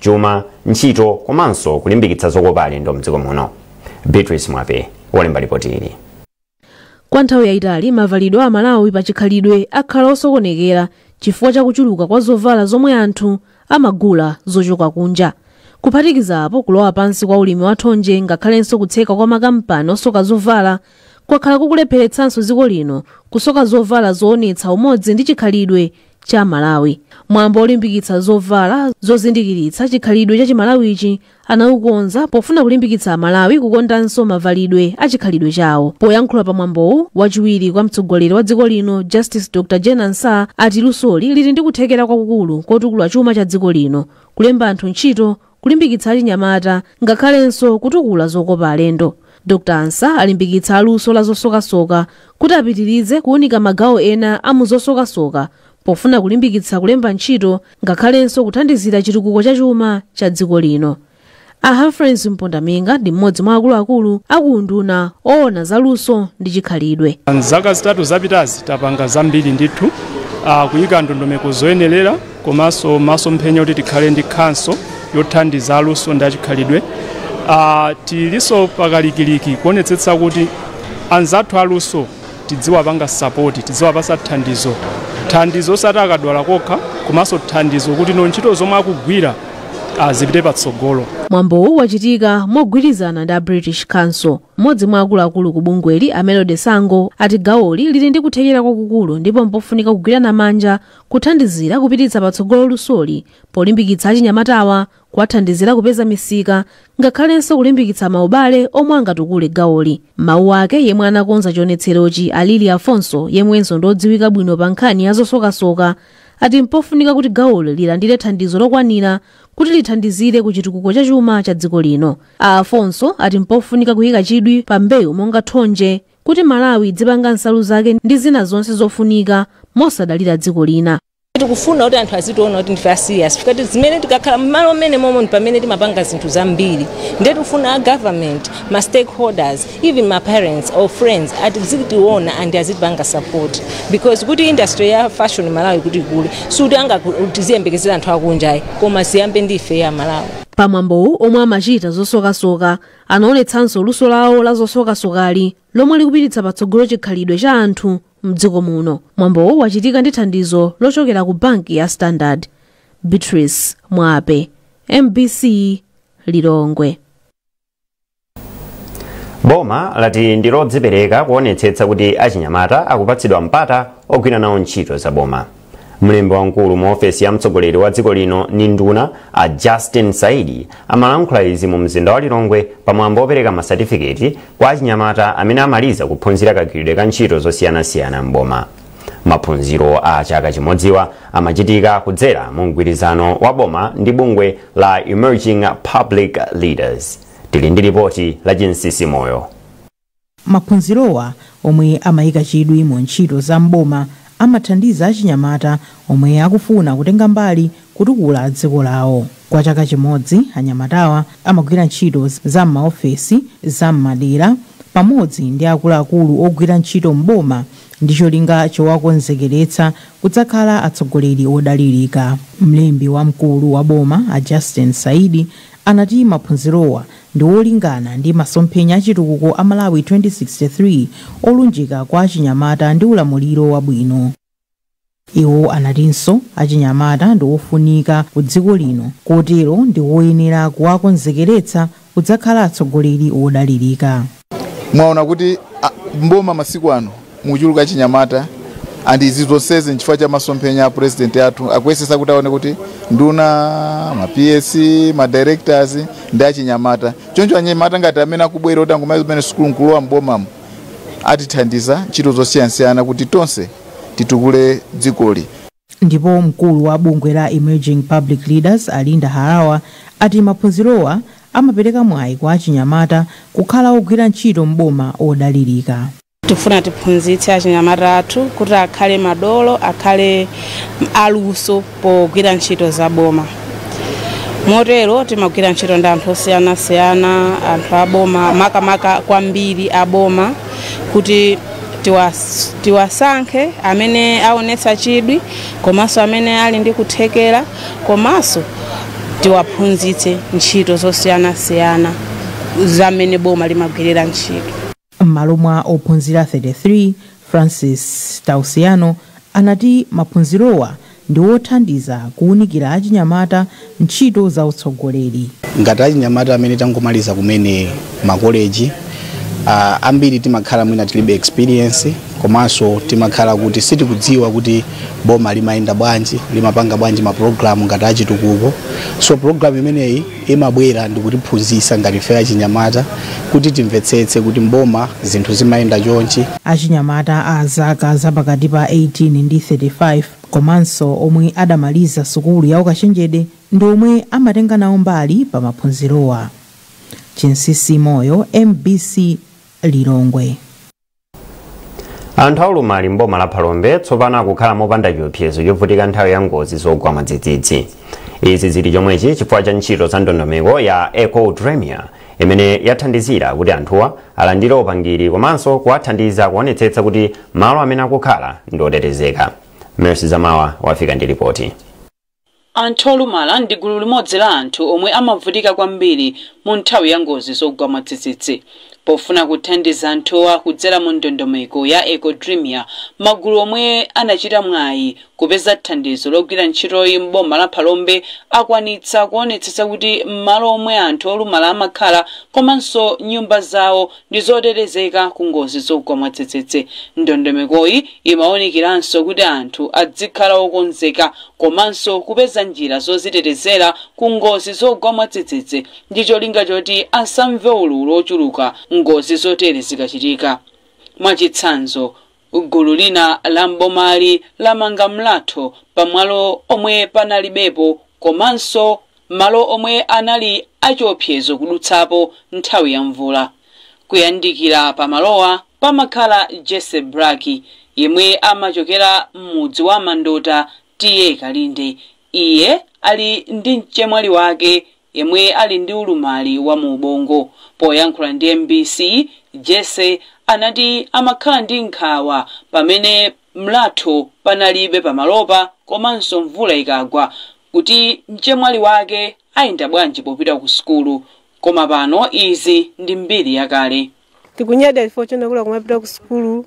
chuma, ntchito komanso kulimbikitsa zokopa alendo mdziko muno. Beatrice Mwape walemba lipoti ili. kwa nthawi yayitali mavalidwe a amalawi pa chikhalidwe akhala osokonekera chifukwa cha kuchuluka kwa zovala zomwe anthu amagula zochoka kunja kuphatikiza apo kulowa pansi kwa ulimi wa thonje ngakhalenso kutseka kwa makampani osoka zovala kwakhala kukulepheretsanso dziko lino kusoka zovala zoonetsa umodzi ndi chikhalidwe cha amalawi mwambo olimbikitsa zovala zozindikiritsa chikhalidwe cha chimalawichi anaukonza pofuna kulimbikitsa amalawi kukondanso mavalidwe a chikhalidwe chawo poyankhula pa mwambowu wachiwiri kwa mtsogoleri wa dziko lino justice dr jane ansah ati lusoli lili ndi kuthekera kwakukulu kotukula chuma cha dziko lino kulemba anthu ntchito kulimbikitsa achinyamata ngakhalenso kutukula zokopa alendo dr ansah alimbikitsa aluso la zosokasoka kuti apitirize kuunika magawo ena a mu zosokasoka pofuna kulimbikitsa kulemba ntchito ngakhalenso kuthandizira chitukuko cha chuma cha dziko lino a humphrey mpondaminga ndi mmodzi mwa akuluakulu akuunduna oona za luso ndi chikhalidwe Mzaka zitatu zapitazi tapanga zambiri ndithu uh, kuyika ndondomeko zoyenerera komanso masomphenya kuti tikhale ndi khanso yothandiza aluso ndi achikhalidwe uh, tilinso pakalikiliki kuonetsetsa kuti anzathu aluso tidziwapanga sapoti tidziwapasa thandizo thandizo osati akadwala kokha komanso thandizo kuti no ntchito zomwe akugwira uh, zipite patsogolo mwambowu wachitika mogwirizana ndi a british council mmodzi mwa akuluakulu ku bungweli a melody sango ati gawoli lili ndi kuthekera kwakukulu ndipo mpofunika kugwirana manja Kuthandizira kupititsa patsogolo lusoli polimbikitsa achinyamatawa, kuwathandizira kupeza misika ngakhalenso kulimbikitsa maubale omwe angatukule gawoli. M'mawu ake yemwe anakonza chionetserochi a Lilly Alfonso yemwenso ndi odziwika bwino pa nkhani ya zosokasoka ati mpofunika kuti gawoli lilandire thandizo lokwanira kuti lithandizire ku chitukuko cha chuma cha dziko lino. A Alfonso ati mpofunika kuyika chidwi pa mbewu monga thonje, kuti Malawi idzipanga nsalu zake ndi zina zonse zofunika mosadalira dziko lina. tikufuna kuti anthu azitiona kuti ndife a serious tikati zimene tikakhala mmalo mmene momwe ndi pamene timapanga zinthu zambiri ndiye tikufuna a government ma stakeholders even ma parents or friends azitiona and azitipanga support because kuti industry ya fashion malawi kuti ikule sikuti anga tiziyembekezera anthu akunja ayi koma ziyambe ndife amalawi pamwambowu omwe amachita zosokasoka Anaonetsanso luso lawo la zosokasokali lomwe likupititsa patsogolo chikhalidwe cha anthu mdziko muno. Mwambowu wachitika ndi thandizo lochokera ku banki ya Standard. Beatrice Mwape, MBC Lilongwe. boma lati ndi lodzipereka kuonetsetsa kuti achinyamata akupatsidwa mpata ogwira nawo ntchito za boma mlembi wamkulu mu ofesi ya mtsogoleri wa dziko lino ni nduna a justin saidi amalankhula izi mu mzinda wa lilongwe pamwambo wopereka masatifiketi kwa achinyamata amene amaliza kuphunzira kagwiridwe ka ntchito zosiyanasiyana m'boma maphunziro a chaka chimodziwa amachitika kudzera mu mgwirizano wa boma ndi bungwe la emerging public leaders tili ndi lipoti la chinsisi moyo Maphunzirowa, omwe amaika chidwi mu ntchito za m'boma, amathandiza achinyamata omwe akufuna kutenga mbali kutukula dziko lawo. Kwa chaka chimodzi, anyamatawa amagwira ntchito za m'maofesi, za m'madera pamodzi ndi akuluakulu ogwira ntchito m'boma ndi cholinga chowakonzekeretsa kudzakhala atsogoleri odalirika. Mlembi wamkulu wa boma, a Justin Saidi, anati maphunzirowa ndi olingana ndi masomphenya a chitukuko a Malawi 2063 olunjika kwa achinyamata ndi ulamuliro wabwino. Iwo anatinso achinyamata ndi ofunika ku dziko lino kotero ndi woyenera kuwakonzekeretsa kudzakhala atsogoleri wodalirika. mwaona kuti a, mboma masiku ano muchuluka achinyamata and izi zonsezi nchifukwa cha masomphenya a president athu akuyesesa kuti aone kuti nduna ma ps ma directors ndi achinyamata choncho anyamata ngati amene akubwera kuti angomaliza kumene sukulu nkulowa mbomamo atithandiza ntchito zosiyanasiyana kuti tonse titukule dzikoli Ndipo mkulu wa bungwe la Emerging Public Leaders a Linda Harawa ati maphunzirowa amapereka mwayi kwa achinyamata kukhala ogwira ntchito m'boma odalirika. Tifuna tiphunzitse achinyamata athu kuti akhale madolo, akhale aluso pogwira ntchito za boma. Motero timagwira ntchito ndi anthu osiyanasiyana, anthu a boma, makamaka kwambiri a boma. kuti tiwasankhe amene aonetsa chidwi komanso amene ali ndi kuthekera komanso tiwaphunzitse ntchito zosiyanasiyana za mmene boma limagwirira ntchito m'malo mwa ophunzira 33 francis tausiano anati maphunzirowa ndi wothandiza kuunikira achinyamata ntchito za utsogoleri. Ngati achinyamata amene tangomaliza kumene makoleji, ambiri timakhala mwina tilibe experience komanso timakhala kuti sitikudziwa kuti boma limayenda bwanji, limapanga bwanji ma program ngati achitukuko. So program imeneyi imabwera ndikutiphunzitsa ngati ife achinyamata kuti timvetsetse kuti m'boma zinthu zimayenda chonchi. Achinyamata a zaka za pakati pa 18 ndi 35 komanso omwe adamaliza sukulu ya ukachenjede ndi omwe amatenga nawo mbali pa maphunzirowa. Chinsisi Moyo, mbc, Lilongwe. anthu aulumali mboma la phalombe tsopano akukhala mopanda chiopsezo chovutika nthawi ya ngozi zogwa mwadzidzidzi izi zili chomwechi chifukwa cha ntchito za ndondomeko ya eco dremia imene yathandizira kuti anthuwa alandire upangiri komanso kuwathandiza kuonetsetsa kuti malo amene akukhala ndi otetezeka mercy zamawa wafika ndi ripoti Anthu olumala ndi gulu limodzi la anthu omwe amavutika kwambiri mu nthawi ya ngozi zogwa mwadzidzidzi. Pofuna kuthandiza anthuwa kudzera mu ndondomeko ya Eco Dremia, magulu omwe anachita mwayi kupeza thandizo logwira ntchitoyi m'boma la Phalombe akwanitsa kuonetsetsa kuti m'malo omwe anthu olumala amakhala komanso nyumba zawo ndi zotetezeka ku ngozi zogwa mwadzidzidzi. Ndondomekoyi imaunikiranso kuti anthu adzikhala okonzeka komanso kupeza njira zozitetezera ku ngozi zogwa mwadzidzidzi ndi cholinga choti asamve ululu ochuluka ngozi zotere zikachitika. Mwachitsanzo, Gulu lina la m'bomali lamanga mlatho pa malo omwe panalibepo komanso malo omwe anali achiopsezo kudutsapo nthawi ya mvula. Kuyandikira pa malowa pamakhala Jesse Braki yemwe amachokera m'mudzi wa Mandota TA Kalinde. Iye ali ndi mchemwali wake yemwe ali ndi ulumali wa mu ubongo. Poyankhula ndi mbc, Jesse anati amakhala ndi nkhawa pamene mlatho panalibe pamalopa komanso mvula ikagwa kuti mchemwali wake ayenda bwanji popita ku sukulu koma pano izi ndi mbiri yakale. tikunyadira chifukwa chonena kuti akumapita ku sukulu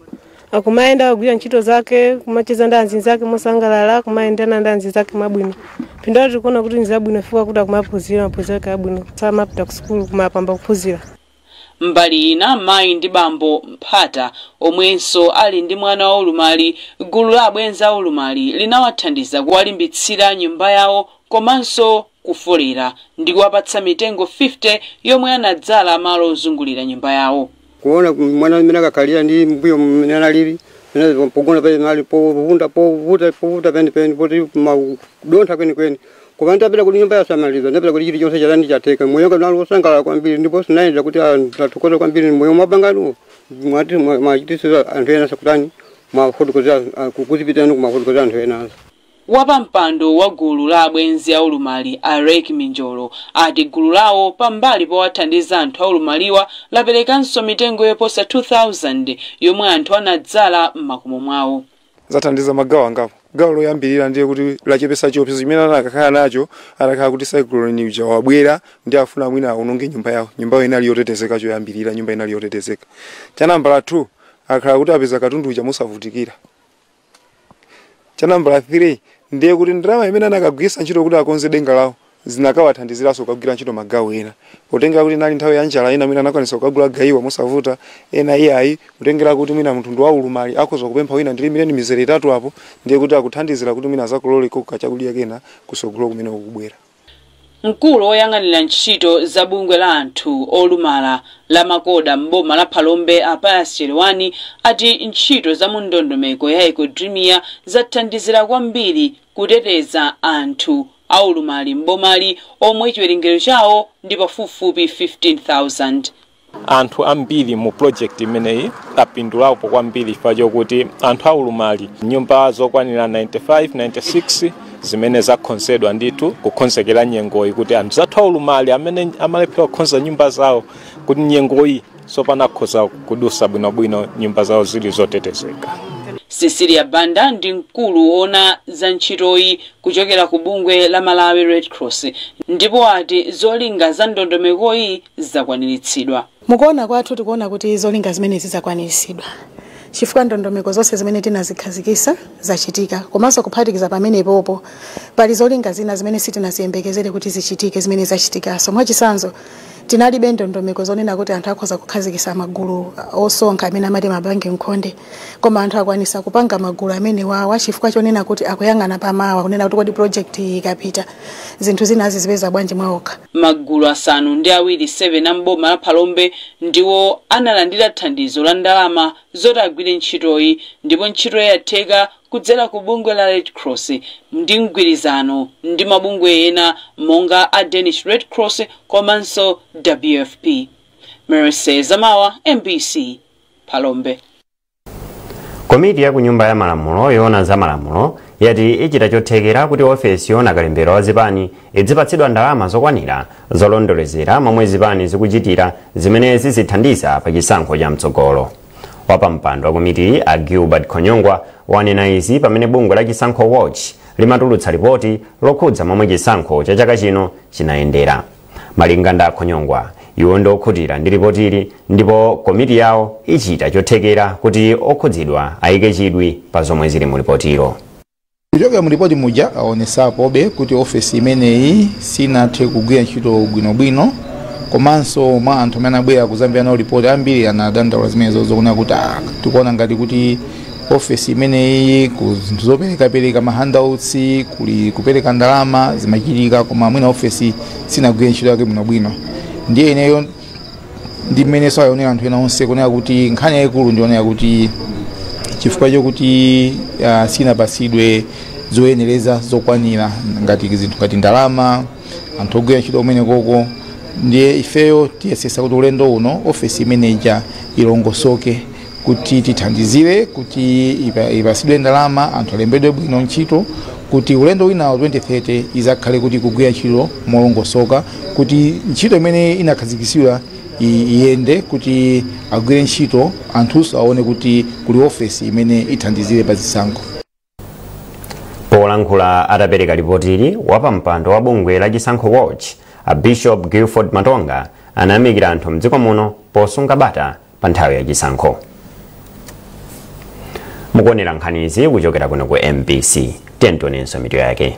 akumayenda kugwira ntchito zake kumacheza ndi anzinzake mosangalala kumayendana ndi anzinzake mwabwino phindu lake tikuona kuti nzabwino chifukwa kuti akumaphunzira maphunziro ake abwino akumapita ku sukulu kumapambana kuphunzira mbali ina mayi ndi bambo mphata omwenso ali ndi mwana wa ulumali gulu la abwenzi a ulumali linawathandiza kuwalimbitsira nyumba yawo komanso kufolera ndi kuwapatsa mitengo 50 yomwe anadzala malo ozungulira nyumba yawo. kuona mwana mmene akukhalira ndi mmbuyo mmene analili mmene pogona panali malo povunda povuta povuta kwenikweni poti pamadontha kwenikweni koma nditapeza kuti nyumba yasamalika nditapeza kuti chilichonse chatani chatheka moyo wanga unali wosangalala kwambiri ndipo sinayenda kuti ah, ndathokoza kwambiri momwe mwapanga inuyo mwati mwachitisiza anthu ena sakutani mwafotokozera kukuzipitirani kumafotokozera anthu enazo Wapampando wa gulu la abwenzi a ulumali a Rek Minjolo ati gulu lawo pambali powathandiza anthu aulumaliwa laperekanso mitengo yoposa 2,000 yomwe anthu anadzala m'makomo mwawo. zathandiza magawo angapo. Gawo loyambirira ndiye kuti lachepetsa chiopsezo chimene anakakhala nacho atakhala kuti cyclone uja wabwera ndiye afuna mwina awononge nyumba yawo. Nyumbayo inali yotetezeka choyambirira, nyumba inali yotetezeka. Cha nambala 2 akhala kuti apeza katundu uja mosavutikira. cha nambala 3 ndiye kuti ndalama imene anakagwirisa ntchito kuti akonze denga lawo zinakawathandiziraso kugwira ntchito magawo ena potengera kuti inali nthawi ya njala ena mwina anakwanisa kugula gayiwa mosavuta ena iyayi kutengera kuti mwina munthu ndi waulumali akhoza kupempha wina ndilimireni mizere itatu apo ndiye kuti zakuthandizira kuti mwina azakololeko kachakudya kena kusogolo kumene kukubwera Mkulu oyang'anira ntchito za bungwe la anthu olumala la MACODA m'boma la Phalombe a Pius Chelewani ati ntchito za mu ndondomeko ya Ecodrimia zathandizira kwambiri kuteteza anthu aulumali m'bomali omwe chiwerengero chawo ndi pafupifupi 15,000. Anthu ambiri mu project imeneyi apindulapo kwambiri chifukwa chokuti anthu aulumali nyumba zokwanira 95 96 zimene zakhonzedwa ndithu kukhonzekera nyengoyi kuti anzathu aulumali amene amalephera kukhonza nyumba zawo kuti nyengoyi tsopano akhoza kudusa bwinobwino nyumba zawo zili zotetezeka cecilia banda ndi mkulu woona za ntchitoyi kuchokera ku bungwe la malawi red cross ndipo ati zolinga za ndondomekoyi zakwaniritsidwa. Mukuona kwathu tikuona kuti zolinga zimenezi zakwaniritsidwa chifukwa ndondomeko zonse zimene tinazikhazikisa zachitika komanso kuphatikiza pamenepopo pali zolinga zina zimene sitinaziyembekezere kuti zichitike zimene zachitikaso. Mwachisanzo tinalibe ndondomeko zonena kuti anthu akhoza kukhazikisa magulu osonkha amene amati mabanki nkhonde. koma anthu akwanisa kupanga magulu amenewawa chifukwa chonena kuti akuyang'ana pamawa kunena kuti kodi project iyi ikapita zinthu zina azizipeza bwanji mwaokha Magulu asanu ndi awiri 7 a m'boma la Phalombe ndiwo analandira thandizo la ndalama zoti agwire ntchitoyi ndipo ntchitoyi yatheka kudzera ku bungwe la Red Cross ndi mgwirizano ndi mabungwe ena monga a Danish Red Cross komanso WFP. Mercy Zamawa, MBC. Phalombe. Komiti ya ku nyumba ya malamulo yoona za malamulo yati ichita chothekera kuti ofesi yoona kalembera wa zipani idzipatsidwa ndalama zokwanira zolondolezera momwe zipani zikuchitira zimene zizithandiza pa chisankho cha mtsogolo wapampando wa komitiyi a gilbert khonyongwa wanena izi pamene bungwe la chisankho watch limatulutsa lipoti lokhudza momwe chisankho cha chaka chino chinayendera Malinga ndi a Khonyongwa, iwo ndi okhutira ndi lipotili ndipo komiti yawo ichita chothekera kuti okhudzidwa ayike chidwi pa zomwe zili mu lipotilo. Kuchokera mu lipoti muja awonetsapobe kuti ofesi imeneyi sinathe kugwira ntchito bwinobwino komanso mwa anthu amene anabwera kuzamvera nawo lipoti ambiri anadandaula zimenezozo kunena kuti ah, tikuona ngati kuti ofesi imeneyi ku zinthu zoperekapereka mahandouts kuli kupereka ndalama zimachitika koma mwina ofesi sinagwire ntchito yake bwinobwino ndiye ineyo ndi mmene aonera anthu ena onse kunena kuti nkhani yayikulu ndi yonena kuti chifukwa chokuti uh, sinapasidwe zoyenereza zokwanira ngati zinthu ngati ndalama anthu ogwira ntchito kumene koko ndiye ifeyo tiyesesa kuti ulendo uno ofesi imeneja ilongosoke kuti tithandizire kuti ipa- ipasidwe ndalama anthu alembedwe bwino ntchito kuti ulendo winawo 2030 izakhale kuti ikugwira ntchito molongosoka kuti ntchito imene inakhazikitsidwa i- iyende kuti agwire ntchito anthunso aone kuti kuli ofesi imene ithandizire pa zisankho polankhula atapereka lipotili wapampando wa bungwe la chisankho watch a bishop gilford matonga anayamikira anthu mdziko muno posunga bata pa nthawi ya chisankho mukuonera nkhanizi kuchokera kuno ku mbc tionenso mitu yake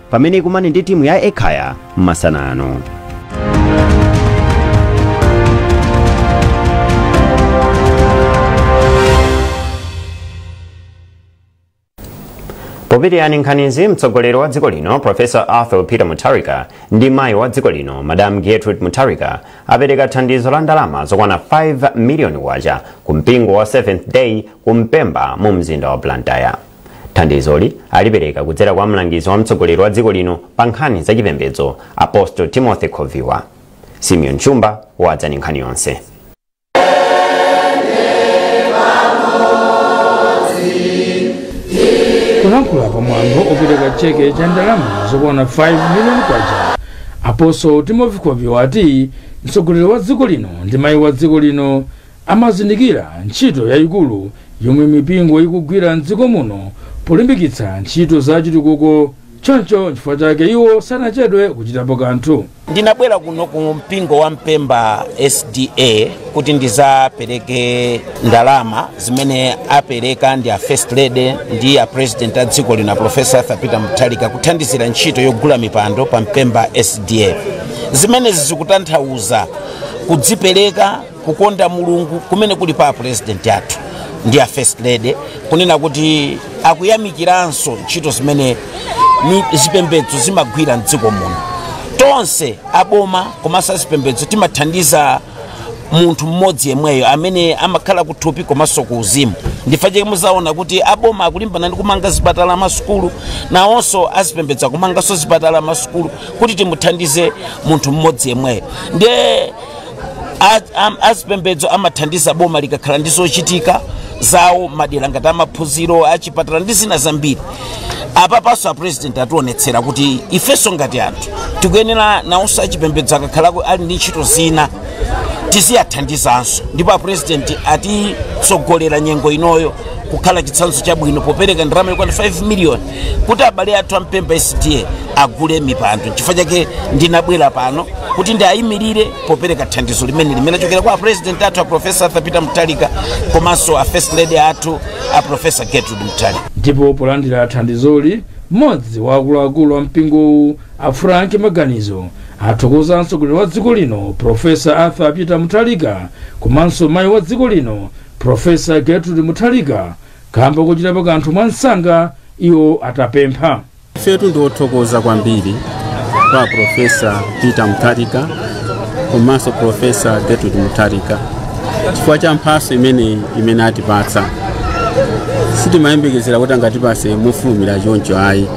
pamene ikumane ndi timu ya ekhaya masana ano popitiriza nkhanizi mtsogoleri wa dziko lino profesa arthur peter mutharika ndi mayi wa dziko lino madam gertrude mutharika apereka thandizo la ndalama zokwana 5 miliyoni kwacha ku mpingo wa seventh day ku mpemba mu mzinda wa blantyre Thandizoli alipereka kudzera kwa mlangizi wa mtsogoleri wa dziko lino pa nkhani za chipembedzo Apostle Timothy Khoviwa. Simeon Chumba wadza ndi nkhani yonse. polankhula pa mwambo opereka cheke cha ndalama zokwana 5 miliyoni kwacha apostle timothy khoviwa ati mtsogoleri wa dziko lino ndi mayi wa dziko lino Amazindikira ntchito yayikulu yomwe mipingo ikugwira m'dziko muno polimbikitsa ntchito za chitukuko choncho nchifukwa chake iwo sanachedwe kuchitapo kanthu. Ndinabwera kuno ku mpingo wa Mpemba SDA kuti ndizapereke ndalama zimene apereka ndi a First Lady ndi a President a dziko lino a Professor Arthur Peter Mutharika kuthandizira ntchito yogula mipando pa Mpemba SDA. Zimenezi zikutanthauza kudzipereka kukonda mulungu kumene kuli pa apurezidenti athu ndi a first lady kunena kuti akuyamikiranso ntchito zimene mi- zipembedzo zimagwira mdziko muno tonse aboma komanso azipembedzo timathandiza munthu mmodzi yemweyo amene amakhala kuthupi komanso ku uzimu ndi chifukwa chake muzaona kuti aboma akulimbana ndi kumanga zipatala masukulu nawonso azipembedzo akumanganso zipatala masukulu kuti timuthandize munthu mmodzi yemweyo ndiye Az- am- azipembedzo amathandiza boma likakhala ndi zochitika zawo madera ngati amaphunziro achipatala ndi zina zambiri apapanso a president atiwonetsera kuti ifenso ngati anthu tikuyenera nawonso achipembedzo akakhalako ali ndi ntchito zina tiziwathandizanso ndipo a president atitsogolera nyengo inoyo kukhala chitsanzo chabwino popereka ndalama yokwana 5 miliyoni kuti abale athu a mpemba sda agule mipando chifukwa chake ndinabwera pano kuti ndiayimirire popereka thandizo limeneli limene lachokera kwa apresident athu a profesa arthur peter mutharika komanso a first lady athu a profesa gertrude mutharika ndipo polandira thandizoli mmodzi wa akuluakulu a mpingowu a frank maganizo athokoza mtsogoleri wa dziko lino profesa arthur peter mutharika komanso mayi wa dziko lino profesa gertrude mutharika kamba kochitapo kanthu mwansanga iwo atapempha ifetu ndi othokoza kwambiri kwa profesa peter mutharika komanso profesa gertrude mutharika chifukwa cha mphaso imeneyi imene atipatsa sitimayembekezera kuti angatipase mofulumira choncho ayi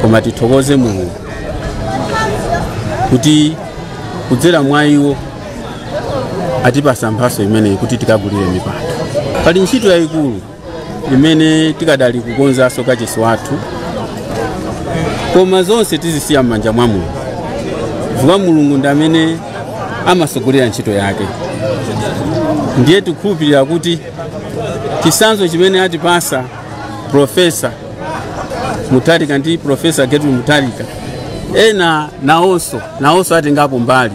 koma tithokoze mulungu kuti kudzera mwa iwo atipasa mphaso imeneyi kuti tikagulire mipando pali ntchito yayikulu imene tikadali kukonzanso kachisi wathu koma zonse tizisiya m'manja mwa mulungu chifukwa mulungu ndi amene amasogolera ntchito yake ndiye tikhulupirira kuti chisanzo chimene atipasa profesa mutharika ndi profesa gertrude mutharika ena nawonso nawonso atengapo mbali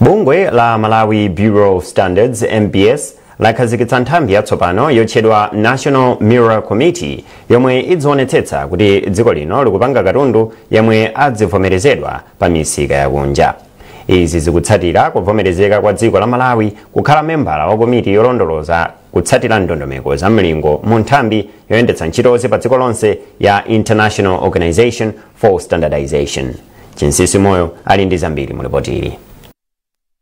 bungwe la malawi bureau of standards mbs lakhazikitsa nthambi yatsopano yotchedwa national mirror committee yomwe idzionetsetsa kuti dziko lino likupanga katundu yemwe adzivomerezedwa pa misika yakunja izi zikutsatira kuvomerezeka kwa dziko la malawi kukhala membala wa komiti yolondoloza kutsatira ndondomeko za mlingo mu nthambi yoyendetsa ntchitozi pa dziko lonse ya international organization for standardization. Chinsisi Moyo ali ndi zambiri mu lipoti ili.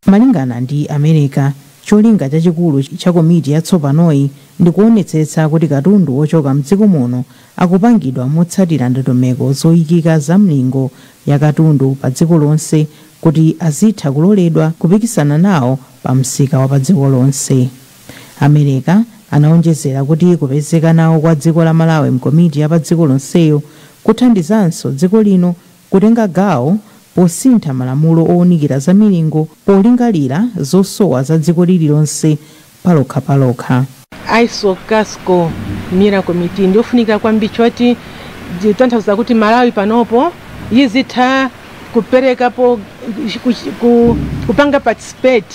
malingana ndi Amereka cholinga chachikulu cha komiti yatsopanoyi ndi kuonetsetsa kuti katundu wochoka mdziko muno akupangidwa motsatira ndondomeko zoyikika za mlingo ya katundu pa dziko lonse kuti azitha kuloledwa kupikisana nawo pa msika wa pa dziko lonse Amereka anaonjezera kuti kupezeka nawo kwa dziko la Malawi mkomiti ya pa dziko lonseyo kuthandizanso dziko lino kutenga gawo posintha malamulo ounikira za milingo polingalira zosowa za dziko lililonse palokhapalokha. ISO CASCO Mirror Committee ndiyofunika kwambiri choti zikutanthauza kuti Malawi panopo izitha kuperekapo, kupanga participate,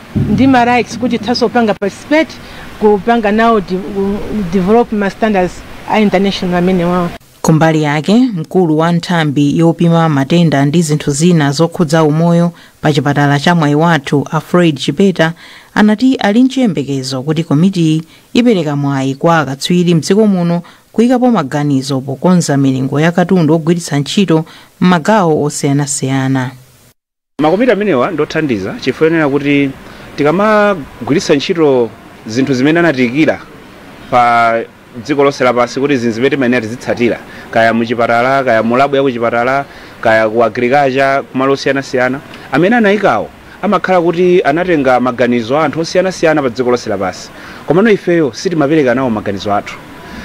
ndi ma rights kuti tithaso kupanga participate kupanga nawo de- develop ma standards a international amenewawo kumbali yake mkulu wa nthambi yopima matenda ndi zinthu zina zokhudza umoyo pa chipatala cha Mwaiwathu a Fred Chipeta anati ali nchiyembekezo kuti komitiyi ipereka mwayi kwa akatswiri mdziko muno kuyikapo maganizo pokonza milingo ya katundu ogwiritsa ntchito m'magawo osiyanasiyana Makomiti amenewa ndi othandiza chifukwa chonena kuti tikamagwiritsa ntchito zinthu zimene anatiikira pa dziko lonse lapansi kuti izi nzimene timayenera tizitsatira, kaya mu chipatala, kaya mu labu ya ku chipatala, kaya ku agriculture, kumalo osiyanasiyana, amene anaikawo amakhala kuti anatenga maganizo a anthu osiyanasiyana pa dziko lonse lapansi. Komano ifeyo sitimapereka nawo maganizo athu.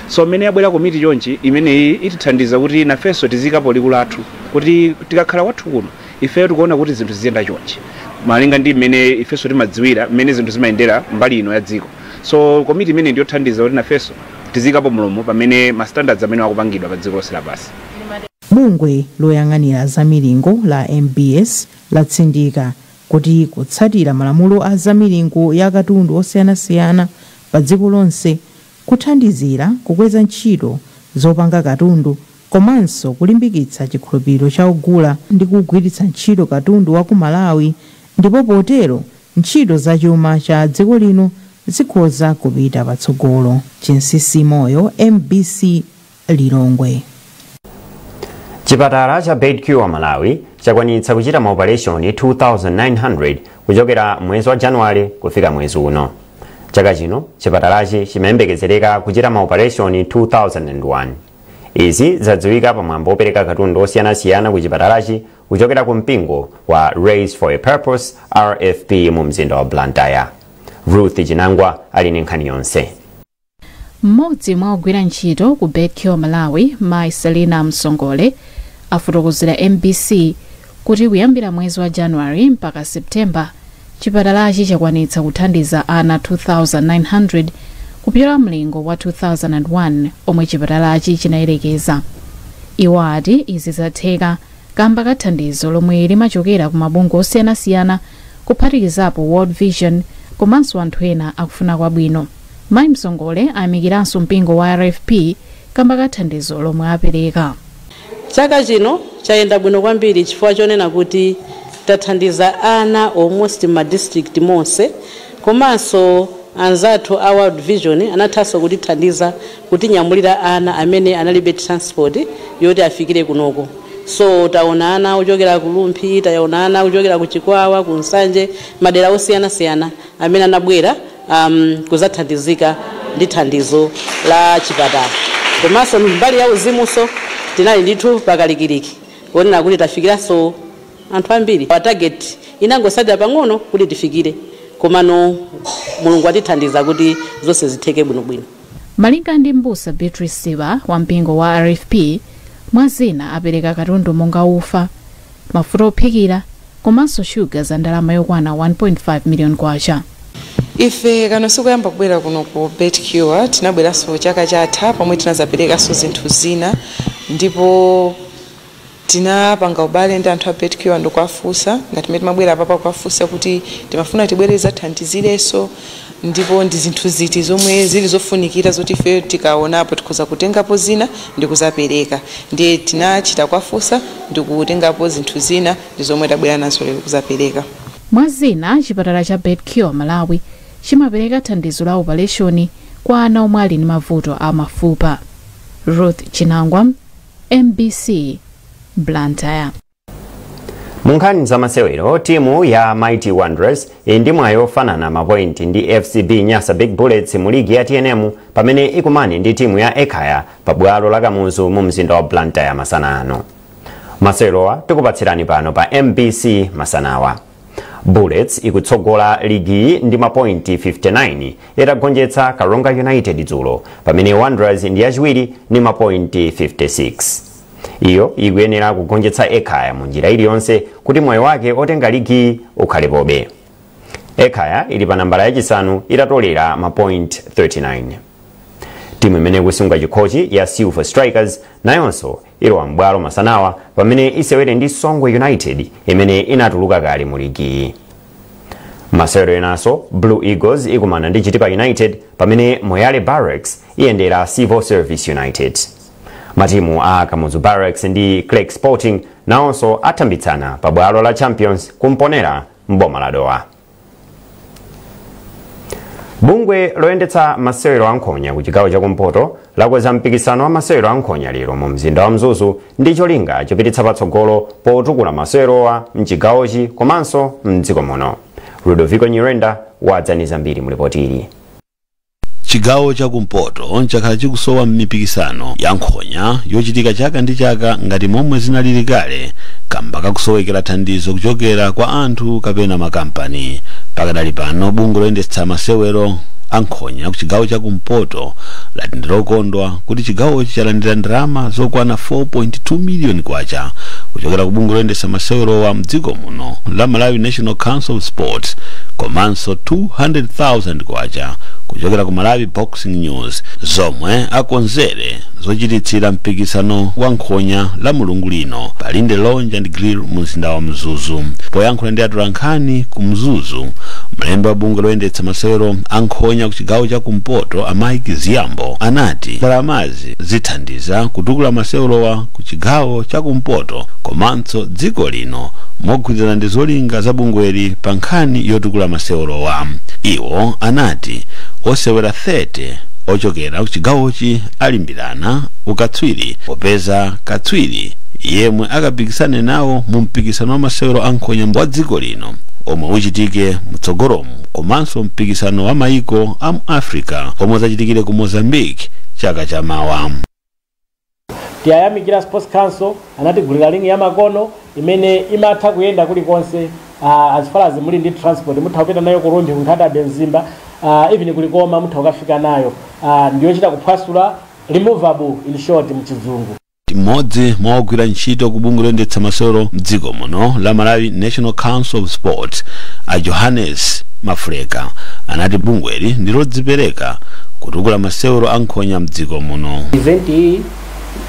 So mmene yabwera komiti chonchi, imeneyi itithandiza kuti nafenso tiziikapo liwu lathu kuti tikakhala kwathu kuno ifeyo tikuona kuti zinthu ziziyenda chonchi malinga ndi mmene ifenso timadziwira mmene zinthu zimayendera mbali ino ya dziko so komiti imene ndiyothandiza kuti nafenso tiziikapo mlomo pamene ma standards amene akupangidwa pa dziko lonse lapansi Bungwe loyang'anira za milingo la MBS latsindika kuti kutsatira malamulo a za milingo ya katundu osiyanasiyana pa dziko lonse kuthandizira kukweza ntchito zopanga katundu komanso kulimbikitsa chikhulupiriro cha ogula ndi kugwiritsa ntchito katundu wa ku Malawi ndipo potero ntchito za chuma cha dziko lino zikhoza kupita patsogolo. Chinsisi Moyo, MBC Lilongwe. Chipatala cha Beit CURE Malawi chakwanitsa kuchita maopaleshoni 2,900 kuchokera mwezi wa Januwale kufika mwezi uno. Chaka chino, chipatalachi chimayembekezereka kuchita maopaleshoni 2,001. Izi zadziwika pa mwambo wopereka katundu osiyanasiyana ku chipatalachi kuchokera ku mpingo wa Raise for a Purpose RFP mu mzinda wa Blantyre. Ruth Chinangwa ali ndi nkhani yonse. mmodzi mwa ogwira ntchito ku Beit Cure Malawi mai selina msongole afotokozera mbc kuti kuyambira mwezi wa January mpaka September, chipatalachi chakwanitsa kuthandiza ana 2,900 kupyola mlingo wa 2001 omwe chipatalachi chinayerekeza. Iwo ati izi zatheka kamba ka thandizo lomwe limachokera ku mabungwe osiyanasiyana kuphatikizapo World Vision komanso anthu ena akufuna kwabwino. Mai Msongole ayamikiranso mpingo wa RFP kamba ka thandizo lomwe apereka. Chaka chino chayenda bwino kwambiri chifukwa chonena kuti tathandiza ana almost mma district monse komanso anzathu a World Vision anathanso kutithandiza kutinyamulira ana amene analibe transport yoti afikire kunoko so taona ana ochokera ku Rumphi, taona ana ochokera ku Chikwawa, ku Nsanje, madera osiyanasiyana. amene anabwera um, kuzathandizika ndi thandizo la chipatala komanso mbali ya uzimunso tinali ndithu pakalikiliki kuonera kuti tafikiranso anthu ambiri our target inangotsalira pang'ono kuti tifikire komano mulungu atithandiza kuti zonse zitheke bwinobwino malinga ndi mbusa beatrice siba wa mpingo wa rfp mwa zina apereka katundu monga ufa mafuta ophikira komanso shuga za ndalama yokwana 1.5 miliyoni kwacha. Ife kano sikoyamba kubwera kuno ku Beit Cure, tinabweranso chaka chatha pomwe tinazaperekanso zinthu zina ndipo tinapanga ubale ndi anthu a Beit Cure ndikuwafunsa ngati mmene timabwera apapa kuwafunsa kuti timafuna tibwere tizathandizirenso Ndipo ndi zinthu ziti zomwe zili zofunikira zoti ife tikaonapo tikhoza kutengapo zina ndikuzapereka. Ndiye tinachita kuwafunsa ndikutengapo zinthu zina ndi zomwe tabwera nazo lero kuzapereka. Mwa zina, chipatala cha Beit Cure Malawi chimapereka thandizo la opaleshoni kwa ana omwe ali ndi mavuto a mafupa. Ruth Chinangwa, mbc, Blantyre. munkhani zamasewero timu ya mighty wanderers ili ndi mwayi ofanana mapointi ndi fcb nyasa big bullets mu ligi ya tnm pamene ikumane ndi timu ya ekhaya pa bwalo la kamuzu mu mzinda wa blantyre masana ano masewerowa tikupatsirani pano pa mbc masanawa bullets ikutsogola ligi ndi mapointi 59 itagonjetsa karonga united dzulo pamene wanderers ndi yachiwiri ndi mapointi 56 iyo ikuyenera kugonjetsa ekhaya mu njira iliyonse kuti mwayi wake otenga ligiyi ukhalepobe Ekhaya ili pa nambala yachisanu itatolera mapoint 39 timu imene ikusunga chikhochi ya silver strikers nayonso ilowa m'bwalo masanawa pamene isewere ndi songwe united imene inatuluka kale mu ligiyi masewero enanso blue eagles ikumana ndi chitipa united pamene moyale barracks iyendera civil service united Matimu a Kamuzu Barracks ndi Creck Sporting nawonso athambitsana pa bwalo la Champions ku Mponela m'boma la Dowa. Bungwe loyendetsa masewero a nkhonya ku chigawo chakumpoto lakonza mpikisano wa masewero a nkhonya lero mu mzinda wa Mzuzu ndi cholinga chopititsa patsogolo potukula masewerowa mchigawochi komanso mdziko muno. Ludovico Nyirenda watsendera zambiri mu lipoti ili. chigawo cha kumpoto chakhala chikusowa mipikisano ya nkhonya yochitika chaka ndi chaka ngati momwe zinalili kale kamba kakusowekera thandizo kuchokera kwa anthu kapena makampani pakadali pano bungwe loyendetsa masewero a nkhonya ku chigawo cha kumpoto lati ndilokondwa kuti chigawochi chalandira ndalama zokwana 4.2 miliyoni kwacha kuchokera ku bungwe loyendetsa masewerowa mdziko muno la malawi national council of sports komanso 200,000 kwacha kuchokera ku Malawi Boxing News zomwe akonzere zochititsira mpikisano wa nkhonya Lamulungu lino pa Linde Lounge and Grill mu mzinda wa Mzuzu. Poyankhula ndi atolankhani ku Mzuzu, mlembi wa bungwe loyendetsa masewero a nkhonya ku chigawo cha kumpoto a Mike Ziyambo anati ndalamazi zithandiza kutukula masewerowa ku chigawo cha kumpoto komanso tso dziko lino mogwirizana ndi zolinga za bungweli pa nkhani yotukula masewerowa. Iwo anati osewera 30 ochokera kuchigawochi alimbirana ukatswiri popeza katswiri yemwe akapikisane nawo mu mpikisano wa masewero a nkhonya wa dziko lino omwe uchitike mtsogolomu komanso mpikisano wa maiko a mu africa omwe uzachitikire ku mozambique chaka chamawa. tiyayamikira sports council anatigulira ring ya makono imene imatha kuyenda kulikonse uh, as far as muli ndi transport mutha kupita nayo ku rumphi ku nkhata bay mzimba uh, even ku likoma mutha kukafika nayo uh, ndiyochita kuphwasula removable in short mchizungu mmodzi mwa ogwira ntchito ku bungwe loyendetsa masewero mdziko muno la malawi national council of sports a johannes mafuleka anati bungweli ndilodzipereka kutukula masewero a nkhonya mdziko muno. Event iyi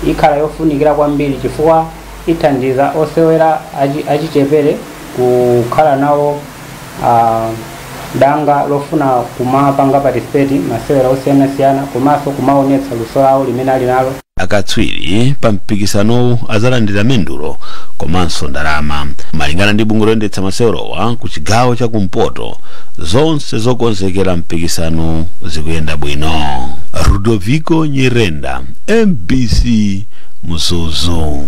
ikhala yofunikira kwambiri chifukwa ithandiza osewera achichepere kukhala nawo ah, danga lofuna kumapanga participate masewera osiyanasiyana komanso kumaonetsa luso lawo limene ali nalo Akatswiri pa mpikisanowu adzalandira mendulo komanso ndalama. Malingana ndi bungwe loyendetsa masewerowa ku chigawo cha kumpoto, zonse zokonzekera mpikisanowu zikuyenda bwino. Ludoviko Nyirenda, MBC Mzuzu.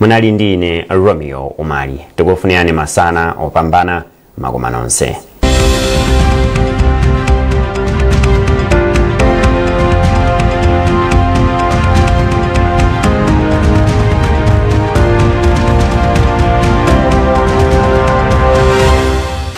munali ndi ine romeo umali tikufunirani masana opambana makoma nonse